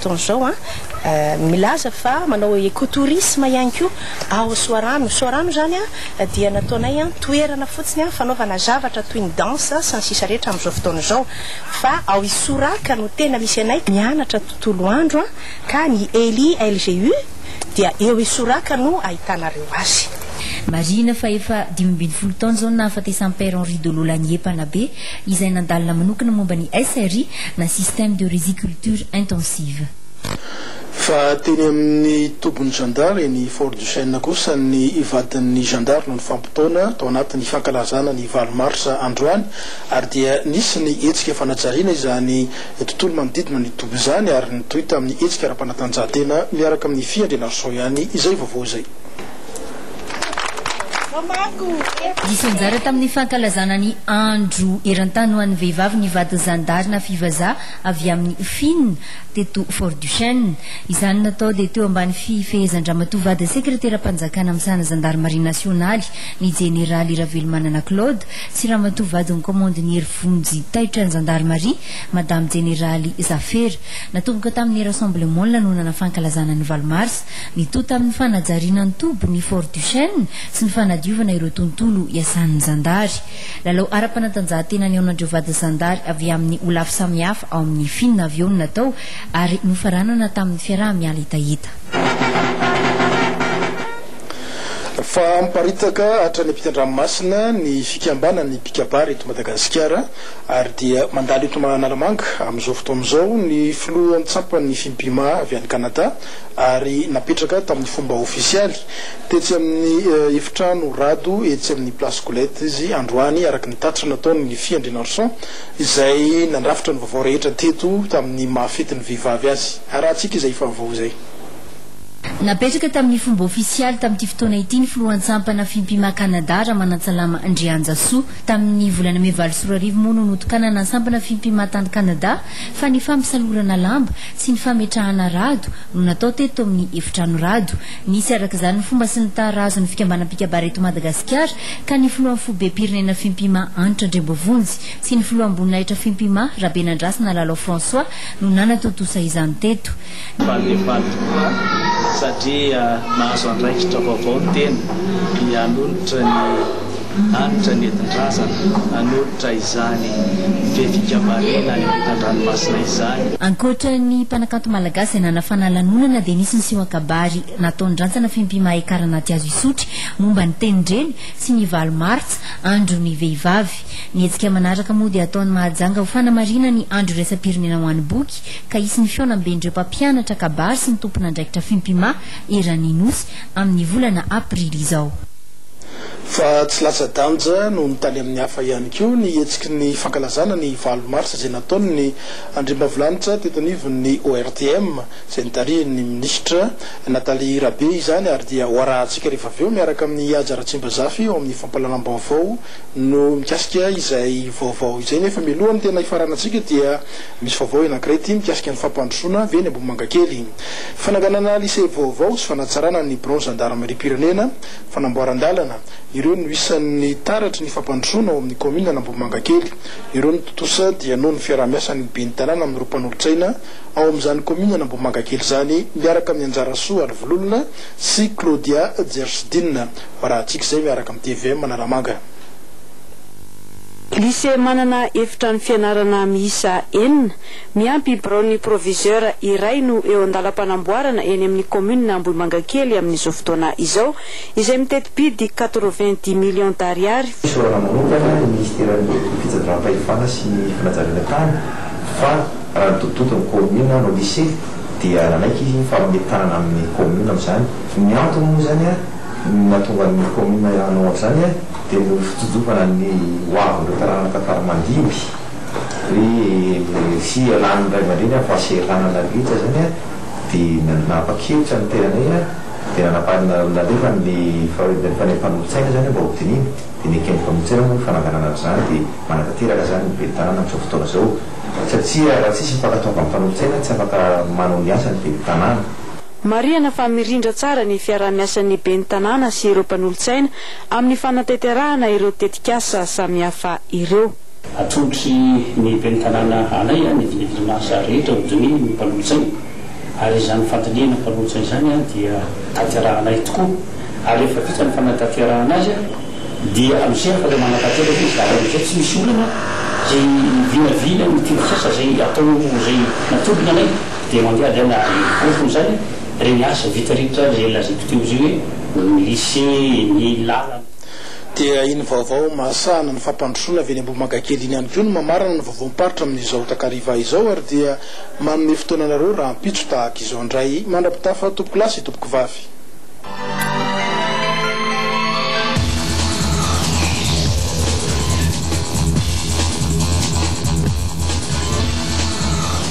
Toy zao an, milaza fa manao ecotourisme ihany koa ao Soarano. Soarano zany an dia nataonay an toerana fotsiny an fanaovana zavatra toy ny dansa sy ny sisa rehetra amin'izao fotoana izao. Fa ao Isoraka no tena misy anay mianatra tontolo andro an ka ny Eli LGU dia eo Isoraka no ahitanareo azy. Marihina fa efa dimy ambin'ny folo taona izao no nahafatesan'i Père Henri Dolo Lanier mpanabe. izay nandalina manokana momba ny SRI na Système de Riziculture Intensive. Fa teny amin'ny tobin'ny zandary eny Fort-Duchesne kosa ny vadin'ny zandary no nifampitaona tao anatin'ny fankalazana ny valo marsa androany ary dia nisy ny hetsika fanajariana izany tontolo manodidina ny toby izany ary nitohy tamin'ny hetsika ara-panatanjahantena miaraka amin'ny fiandrianarison ihany izay vaovao izay. Nisy anjara tamin'ny fankalazana ny Andro eran-tany ho an'ny vehivavy ny vadin'ny zandary na fivazaha avy amin'ny Finn, teto Fort Duchesne. Izany natao dia teo ambany fifehezan-dRamatoa Vady Sekreteram-panjakana misahana Zandarimaria nasionaly, ny Jeneraly Ravelomanana Claude, sy Ramatoa Vadin'ny Kaomandiniera Vonjy taitra ny Zandarimaria, Madame Jeneraly Zafera. Natomboka tamin'ny Rassemblement ny lanonana fankalazana ny valo marsa. Mitohy tamin'ny fanajariana ny toby ny Fort Duchesne sy ny fanadiovana ireo tontolo iasan'ny zandary. Lalao ara-panatanjahantena nihaonan'ireo vady zandary avy amin'ny holafy samihafa ao amin'ny Finn avy eo no natao ary nofaranana tamin'ny fiaraha-miala hetaheta. Fa miparitaka hatrany ampitan-dranomasina ny fikambanan'ny mpikabary eto Madagasikara ary dia mandalo eto Analamanga amin'izao fotoana izao ny filoha an-tsampan'ny Fimpima avy any Canada, ary napetraka tamin'ny fomba ofisialy tetsy amin'ny efitrano Rado etsy amin'ny Place Colette izy androany araka ny tatitra nataon'ny Fiandrianarison izay nandrafitra ny vaovao rehetra teto tamin'ny maha fetin'ny vehivavy azy. Arahantsika izay vaovao izay. Napetraka tamin'ny fomba ofisialy tamin'ity fotoana ity ny Filohan-tsampana Fimpima Canada, Ramanantsalama Andrianjasoa. Tamin'ny volana mey valo sy roa arivo moa no notokanana Sampana Fimpima tany Canada fa ny fampisalorana lamba, Tsy ny fametrahana rado no natao teto amin'ny efitrano rado. Nisy araka izany ny fomba sy ny tara azon'ny fikambanam-pikabary eto Madagasikara ka ny filohan'ny foibem-pirenena Fimpima Hanitra Andriamboavonjy sy ny filoham-boninahitra Fimpima Rabenandrasana Lalao François no nanatontosa izany teto. Falefaly tokoa satria mahazo andraikitra vaovao ny tena, ny hanonitra ny. Hanitra nentin-drazana hanolotra izany be fikambariana any ampitan-dranomasina izany. Ankoatra ny mpanakanto malagasy izay nanafana lanonana dia nisy ny seho an-kabary nataon'ny rantsana Fimpi Mahay Kara Natiazo Isotry momba ny tenin-dreny sy ny valo martsa, andron'ny vehivavy. Ny hetsika manaraka moa dia ataon'i Mahajanga ho fanamariana ny andro iraisam-pirenena ho an'ny boky ka hisy ny fihaonamben'ireo mpampianatra kabary sy ny tompon'andraikitra Fimpima eran'ny Nosy amin'ny volana aprily izao. Fa tsy latsa-danja noho ny tany amin'ny hafa ihany koa ny hetsiky ny fankalazana ny valo marsa izay nataon'ny andriambavilanitra teto anivon'ny ORTM izay notarihin'ny minisitra Nathalie Rabe izany ary dia hoarahantsika rehefa avy eo miaraka amin'i Haja Ratsimbazafy ao amin'ny fampahalalam-baovao no mikasika izay vaovao izay nefa mialohan'ny tena hifaranantsika dia misy vaovao anankiray ity mikasika ny fampandrosoana avy eny Ambohimangakely fananganana lycée vaovao sy fanatsarana ny biraon'ny zandarimariam-pirenena Fanamboaran-dalana, ireo no isan'ny taratry ny fampandrosoana ao amin'ny kaominina an'Ambohimangakely. Ireo no tontosa dia noho ny fiaraha-miasan'ny ben'ny tanàna amin'ireo mpanolotsaina ao amin'izany kaominina an'Ambohimangakely izany miaraka amin'ny Anjarasoa Alivololona sy Claudia Jersidina Rahatsikizay miaraka amin'ny tvm Analamanga. Lycée manana efitrano fianarana miisa enina, Miampy biraon'ny proviseur iray no eo an-dalam-panamboarana eny amin'ny kaominina Ambohimangakely amin'izao fotoana izao, izay miteti-bidy quatre-vingt-dix millions d'ariary. Fisaorana manokana ny minisiteran'ny Fitsinjaram-pahefana sy ny fanajariana tany fa raha ny tontotonto ny kaominina no lise dia nanaiky izy fa hanome tanana amin'ny kaominina amin'izany. Ny antony moa izany nahatonga ny kaominina hanao an'izany dia noho ny fitsonjovana ny hoavin'ireo taranaka tara-mandimby. Hoe hiha lany ny ray aman-dreny amin'ny fahasahiranana nandritra izany an, dia nanapa-kevitra ny tenanay an, dia nanapa-, nalefa ny fanehoana ny fanolotsaina izany mba hodinihina, dia neken'ny fanolotsaina moa ny fananganana an'izany, dia manatanteraka izany ny ben'ny tanàna amin'izao fotoana izao. Satria raha tsy misy ny fankatoavana ny fanolotsaina, tsy afaka manao ny asany ny ben'ny tanàna. Marihana fa mirindra tsara ny fiaraha-miasan'ny ben'ny tanàna sy ireo mpanolotsaina amin'ny fanatanterahana ireo tetikasa samihafa ireo. Atolotry ny Ben'ny Tanàna anay ny dimitrimasy rehetra hodinihy ny mpanolotsaina ary izany fandinihana mpanolotsaina izany dia tanterahanay tokoa ary rehefa vita ny fanatanterahana azy dia amizay afaka manatanteraka izy ary amizay tsy misy olana izay vinavina ny tetikasa izay atao izay natolony anay dia mandehadehana ary mivoafona izany ireny asa vita rehetra izay lazaiko teo izay hoe ny lise, ny lalana. Dia iny vaovao mahasahana ny fampandrosoana avy eny Ambohimangakely iny ihany koa no mamarana ny vaovaom-paritra amin'izao takariva izao ary dia manome fotoana anareo rahampitso tahaka izao indray mandra-pitafa tompokolahy sy tompokovavy.